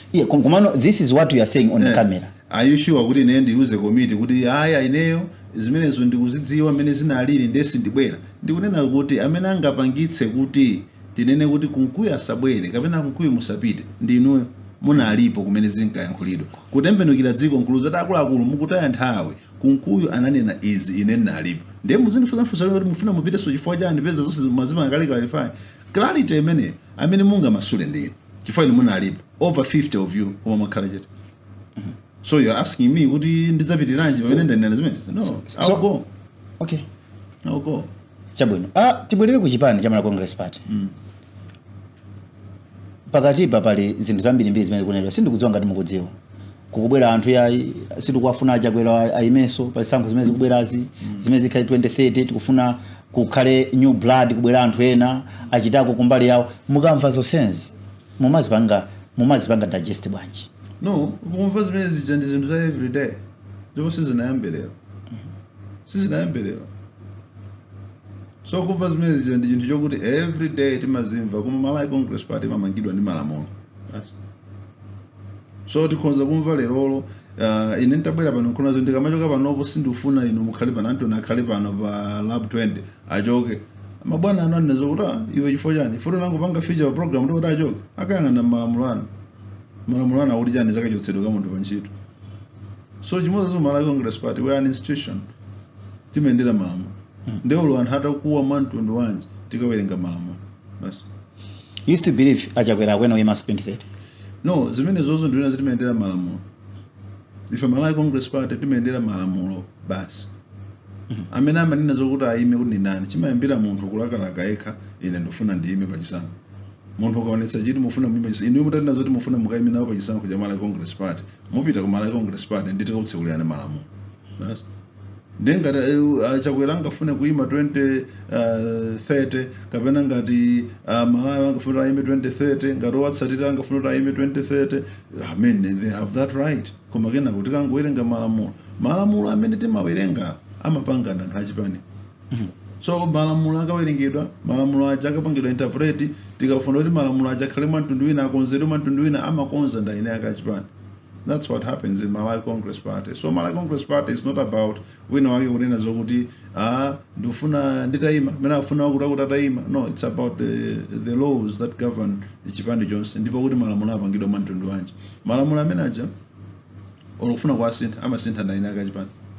iye kom- komano this is what you are saying on camera are you sure kuti ine ndiuze komiti kuti aya ineyo zimenezo ndikuzidziwa mmene zinalili ndiye sindibwera ndikunena kuti amene angapangitse kuti tinene kuti kunkuyu asabwere kapena kunkuyu musapite ndi inuyo munalipo kumene zinkayankhulidwa kutembenukira dziko nkuliuza kuti akuluakulu mukutaya nthawi kunkuyu ananena izi ine ndinalipo ndiye muzindifunsa mfunsa kuti mufuna mupitenso chifukwa chani poti zonse munazimva kale clarify clarity imeneyo amene mungamasulire ndinu chifukwa inu munalipo over 50 of you koma mwakhala chete so you're asking me kuti ndidzapitiranji pamene ndanena zimenezi no so- I'll go okay I'll go chabwino ah, tibwerere ku chipani cha malawi congress party pakatipa pali zinthu zambirimbiri zimene zikunenedwa sindikudziwa ngati mukudziwa kukubwera anthu yayi sitikuwafuna a Chakwera aimenso pa zisankho zimene zikubwerazi zimene zikhale 2030 tikufuna kukhale new blood kubwere anthu ena achiteko kumbali yawo mukamva zonsezi mumazipanga mumazipanga digest bwanji no kumva zimene zija ndi zinthu za everyday ndipo sizinayambe lero sizinayambe lero so kumva zimene zija ndi chinthu chokuti everyday timazimva koma malawi congress party imamangidwa ndi malamulo Basi. so tikhonza kumva lerolo uh, ine nditabwera pano nkhoza ndikamachoka panopo sindikufuna inu mukhale pano antoni akhale pano pa Hot Current achoke mabwana anu anena zokuti "Ah, iwe chifukwa chani Foto unangumupanga feature pa program ndikuti achoke akayang'ane malamulo anu malamulo anu akuti chani zakachotsedwa ka munthu pa ntchito so chimodzimodzi malawi congress party we are an institution timayendera malamulo ndiye olo anthu atakuwa mwa mtundu wanji tikawerenga malamulo basi You still believe a Chakwera akuyenera aimenso 2030. no zimenezozo ndiye nazo timayendera malamulo ife malawi congress party timayendera malamulo basi amene amanena zokuti ayime kuti ndi ndani chimayambira munthu kulakalaka yekha ine ndifuna ndiyime pachisankho munthu ukaonetsa chidwi mufuna muyime pachisankho inu mutanena zoti mufuna mukayime nawo pachisankho cha malawi congress party mupita ku malawi congress party ndiye tikakutsekulirani malamulo Basi. ndiye ngati eh, a chakwera angafune kuima 2030 kapena ngati Amalawi angafune kuti aime 2030 ngati owatsatira angafune kuti aime 2030 i mean they have that right koma kenako tikangowerenga malamulo malamulo amene timawerenga amapanga anthu achipani so malamulo akawerengedwa malamulo aja akapangidwa interpret tikafuna kuti malamulo aja akhale mwa mtundu wina akonzedwe mwa mtundu wina amakonza ndi eni ake a chipani That's what happens in Malawi Congress Party. So Malawi Congress Party is not about wina wake kunena zokuti ah ndikufuna nditaima amene afuna akuti akuti ataima. No, it's about the the laws that govern chipani chonse ndipo kuti malamulo apangidwa mwa mtundu wanji. Malamulo amene aja or kufuna kuwasintha amasintha ndi eni akachipani.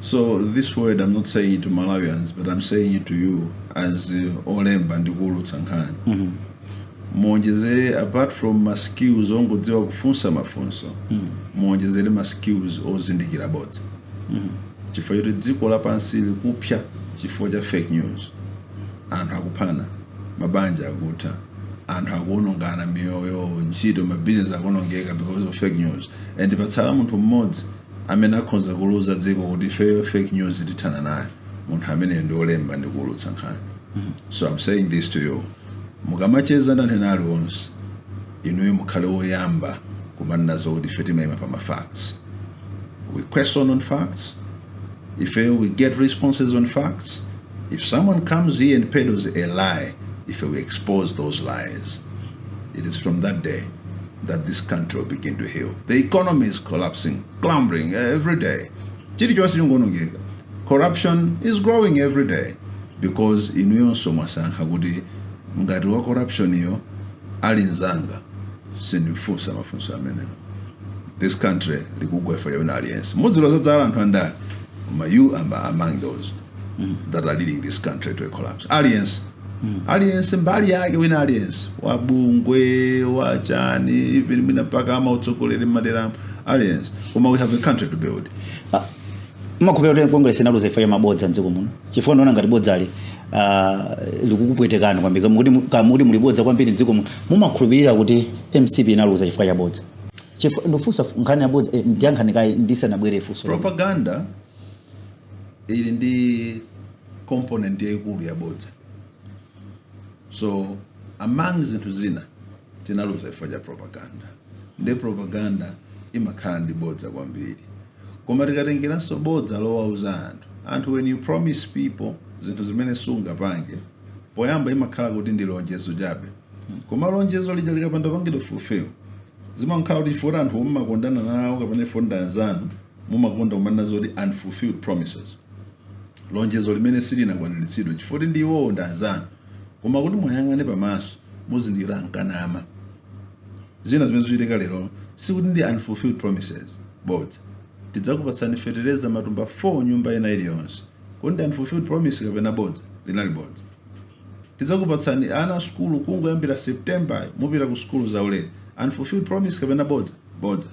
So this word I'm not saying it to Malawians but I'm saying it to you as uh, olemba ndi kuulutsa nkhani mm -hmm. muonjezere apart from ma skills ongodziwa kufunsa mafunso mm -hmm. muonjezere ma skills ozindikira bodza mm -hmm. chifukwa choti dziko lapansi likupsa chifukwa cha fake news anthu akuphana mabanja akutha anthu akuonongana miyoyo ntchito mabizinesi akuonongeka because of fake news and patsala munthu mmodzi amene akhonza kuliuza dziko kuti ifeyo fake news tithana nayo munthu ameneyo ndi olemba ndi kuulutsa nkhani so i'm saying this to you mukamacheza ndi anthu ena alionse inuyo mukhale woyamba kumanena zokuti ife timayima pa ma facts we question on facts ifeyo we get responses on facts if someone comes here and peddles a lie ife we expose those lies It is from that day that this country will begin to heal. The economy is collapsing, crumbling every day. Corruption is growing every day because inuyonso mwasankha kuti ngati wa corruption yo ali mnzanga sindimfunsa mafunso amenewo this country likugwa chifukwa cha wina aliyense mudziloza zala anthu andale koma you are among those mm. that are leading this country to a collapse aliyense mm. aliyense mbali yake wina aliyense wabungwe wa chani even ena mpaka a ma utsogoleri m'maderamu aliyense koma we have a country to build ah, mumakhulupirira kuti congress inaluza chifukwa cha mabodza mdziko muno chifukwa ndiona ngati bodzali uh, ah, likukupwetekani kwambiri kaamba koti muli bodza kwambiri mdziko muno mumakhulupirira kuti mcp inaluza chifukwa cha bodza ndikufunsa nkhani ya bodza eh, ndiyankheni kaye ndisanabwere funso propaganda ili ndi component yaikulu yabodza so among zinthu zina tinaluza chifukwa cha propaganda ndi propaganda imakhala ndi bodza kwambiri koma tikatengeranso bodza lowauza anthu anthu when you promise people zinthu zimene sungapange poyamba imakhala kuti ndi lonjezo chabe koma lonjezo lija likapanda kupangidwa fulfill zimakhala kuti chifukwa choti anthu omakondana nawo kapena chifukwa ndi anzanu mumakonda kumanena zoti unfulfilled promises lonjezo limene silinakwaniritsidwe chifukwa kuti ndi iwowo ndi anzanu koma kuti muwayang'ane pamaso muzindikira ankanama zina zimene zikuchitika lero sikuti ndi unfulfilled promises bodza tidzakupatsani fetereza matumba 4 nyumba ina iliyonse kodi ndi unfulfilled promise kapena bodza linali bodza tidzakupatsani ana asukulu kungoyambira september mupita ku sukulu zaulere unfulfilled promise kapena bodza bodza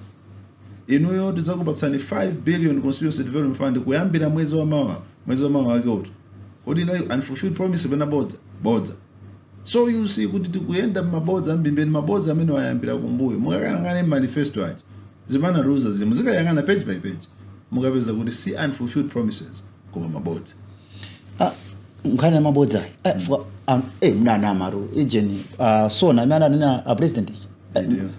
inuyo tidzakupatsani 5 billion constituency development fund kuyambira mwezi wa mawa mwezi wa mawa wake uti kodi inali unfulfilled promise kapena bodza bodza so you see kuti tikunena mabodza ambirimbiri mabodza amene ayambira kumbuyo mukakayang'ana manifesto ache zimene anatiuza zili muzikayang'ana page by page mukapeza kuti si unfulfilled promises koma mabodza Ah, nkhani ya mabodza eh, chifukwa ah, eh, munanama mu ujeni ah, sona imene ananena a president ija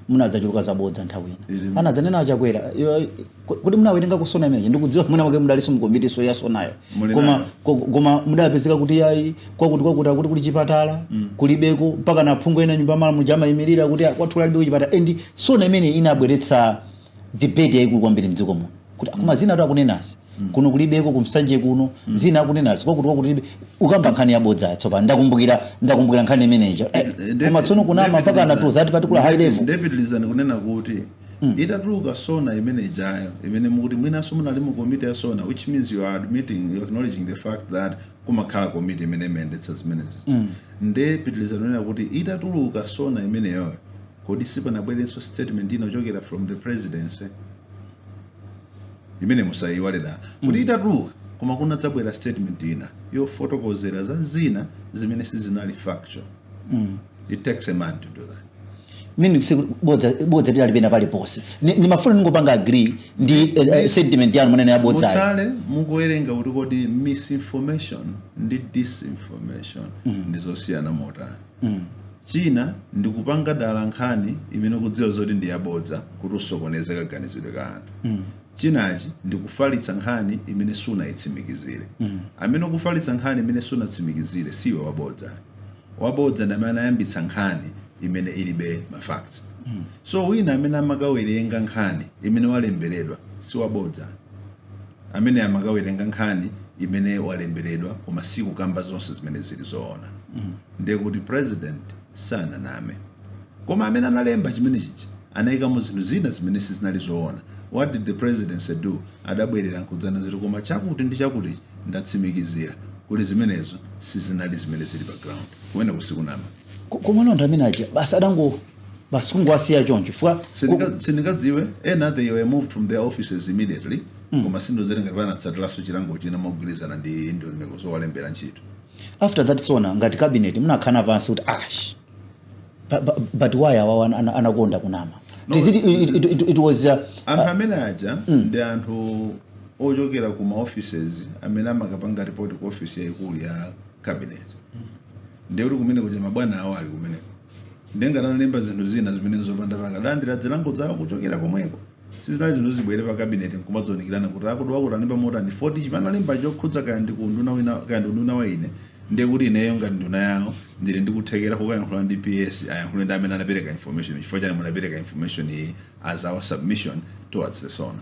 munadzachuluka zabodza nthawi ina anadzanena achakwera yo- ko- kuti munawerenga kusona imeneyi ndikudziwa mwina wake mudaliso mu komiti so ya sonayo Muli koma nayo. ko- koma mudapezeka kuti yayi kwakuti kwakuti akuti kuli chipatala kulibeko mpaka aphungu ena nyumba ya malamulo muja amayimirira kuti "Ah, kwathu kulibeko chipatala and sona imeneyi inabweretsa debate yaikulu kwambiri mdziko muno kuti koma zina anthu akunenazi kuno kulibeko ku Nsanje kuno zina akunenazi kwakuti kwakuti kulibe ukamba nkhani yabodza tsopano ndakumbukira ndakumbukira nkhani imeneja eh, David- koma tsono kunama David mpaka Lizana- ana to that particular high level nde pitilizani kunena kuti itatuluka sona imene ijayo imene mukuti mwinanso munali mu komiti ya sona which means you are admitting you are acknowledging the fact that kumakhala komiti imene imayendetsa zimenezi nde pitiliza kunena kuti itatuluka sona imeneyoyo Kodi sipanabwerenso statement ina yochokera from the presidency imene musayiwale dala kuti itatuluka koma kunadzabwera statement ina yofotokozera za zina zimene sizinali factual it takes a man to do that limenelo si bodza bodza lili pena paliponse ni, ni mafuna ndingopanga agree ndi eh, eh, sentiment yanu imene ya bodzayo. mutsale mukuwerenga kuti kodi misinformation ndi disinformation ndizosiyana motani China ndi kupanga dala nkhani imene ukudziwa zoti ndi yabodza kuti usokoneze kaganizidwe ka anthu. Chinachi ndi kufalitsa nkhani imene sunayitsimikizire. Amene ukufalitsa nkhani imene sunatsimikizire si iwe wabodza ayi. Wabodza ndi amene anayambitsa nkhani imene ilibe ma facts. So wina amene amakawerenga nkhani imene walemberedwa si wabodza ayi. amene amakawerenga nkhani imene walemberedwa koma sikukamba zonse zimene zili zoona ndiye kuti president sananame koma amene analemba chimene chija anayikamo zinthu zina zimene sizinali zoona what did the presidency do adabwerera nkudzanena kuti koma chakuti ndi chakuti ichi ndatsimikizira kuti zimenezo sizinali zimene zili pa ground kumeneko sikunama Ko- koma anthu amene aja basi adango basi kungowasiya choncho chifukwa Sindinga- sindingadziwe ena they were moved from their offices immediately koma sindidziwa ngati panatsatiranso chilango china mogwirizana ndi ndondomeko zowalembera ntchito after that sona ngati cabinet munakhala pansi kuti ash Ba- ba- but why awawa ana- ana- anaganiza kunama Is it- it- it- it- it was uh, anthu amene aja ndi anthu ochokera ku ma offices amene amakapanga report ku office yayikulu ya cabinet ndekuti kumene kuja mabwana awo ali kumeneko Ndiye ngati analemba zinthu zina zimene nzopanda pake, akalandira zilango zawo kuchokera komweko. Sizinali zinthu zoti zibwere pa cabinet nkumadzaunikirirana kuti akuti wakutiwo analemba motani. Poti chimene analemba chokhudza kaya ndi ku unduna wina kaya nduna wa ine ndiye kuti ineyo ngati nduna yawo ndili ndi kuthekera kukayankhula ndi PS ayankhule ndi amene anapereka information chifukwa chani munapereka information iyi as our submission towards the SONA.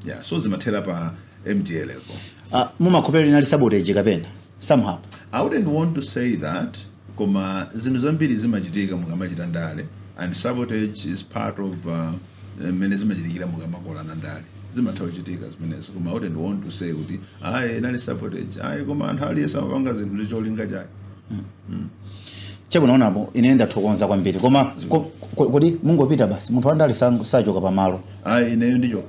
Yeah, so zimathera pa MDA level. Ah, mumakhulupirira inali sabotage kapena? somehow. I wouldn't want to say that koma zinthu zambiri zimachitika mukamachita ndale and sabotage is part of uh, mmene zimachitikira mukamakolana ndale zimatha kuchitika zimenezo koma I wouldn't want to say kuti ayi inali sabotage ayi koma anthu aliyense amapanga zinthu ndi cholinga chake Chabwino Honourable ine ndathokoza kwambiri koma ko- ko- kodi mungopita basi munthu wandale sang- sachoka pamalo ayi ineyo ndichoka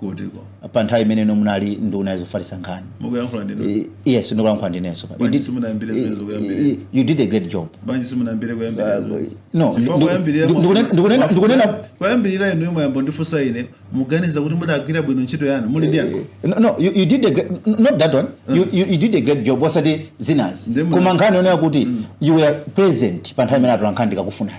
kutiko pa nthawi imene ino munali nduna yazofalitsa nkhani mukuyankhula ndi ine Eh, yes ndikulankhula ndi inuyo pa- you Bwanji did- simunayambire zimenezo eh, kuyambira? eh, you did a great job bwanji simunayambire kuyambira Uh, no, Chifukwa ndiku- kuyambirira ndiku- mwa- ndikunena- mwa- ndikunena- kuyambirira inuyo mwayamba kundifunsa ine muganiza kuti mudagwira bwino ntchito yanu muli ndi yankho no, no you, you did a great, n- not that one you, you, you did a great job osati zinazi Ndiye muna- koma nkhani yonena kuti you were present pa nthawi imene atolankhani amakufunani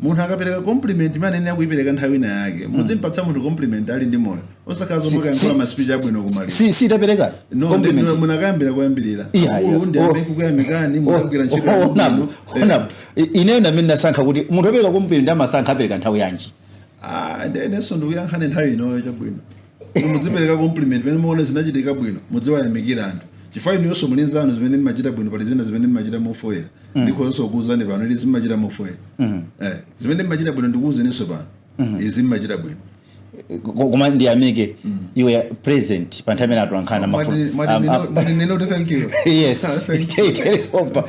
munthu akapereka compliment imene anafuna kuipereka nthawi ina yake muzimpatsa munthu compliment ali ndi moyo osakhala zomakayankhula masipich abwino kumaliro si si ndapereka no compliment ndinu munakayambira kuyambirira Iya, iya. uwu ndi Oh. amene kukuyamikani mukagwira ntchito Oh, oh, yabwino. Honourable, Eh, Honourable. I- ineyo ndamene ndasankha kuti munthu apereka compliment amasankha apereka nthawi yanji ah, ndiye inenso ndikuyankhani nthawi inoyo chabwino Inu mudzipereka compliment pamene mwaona zinachitika bwino mudziwayamikira anthu chifukwa inuyonso muli ndi zanu zimene mmachita bwino pali zina zimene mmachita mofoira ndikhozanso kukuuzani pano izi mmachita mofoira eh, zimene mmachita bwino ndikuuzeninso pano izi mmachita bwino Ko- koma ndiyamike you were present pa nthawi imene atolankhani amafuna Mwati- mwati am- am- nino- mwati munene kuti thank you yes Thank you. telekompa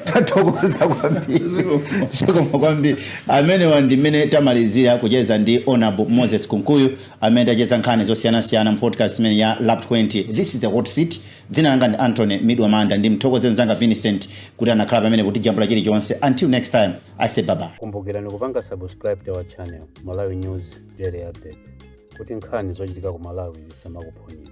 tathokoza kwambiri Zikomo. zikomo kwambiri Amenewa ndi mmene tamalizira kucheza ndi Hon. Moses Kunkuyu amene tacheza nkhani zosiyanasiyana mu podcast imeneyi ya Lap 20 This is the hot seat. Dzina langa ndi Anthony Midwa Manda. Ndimthokoze mnzanga Vincent poti anakwanitsa pamenepa kutijambula chilichonse. Until next time, I say bye bye. Kumbukirani kupanga subscribe to our channel Malawi News Daily Updates kuti nkhani zochitika ku Malawi zisamakuphonyeni.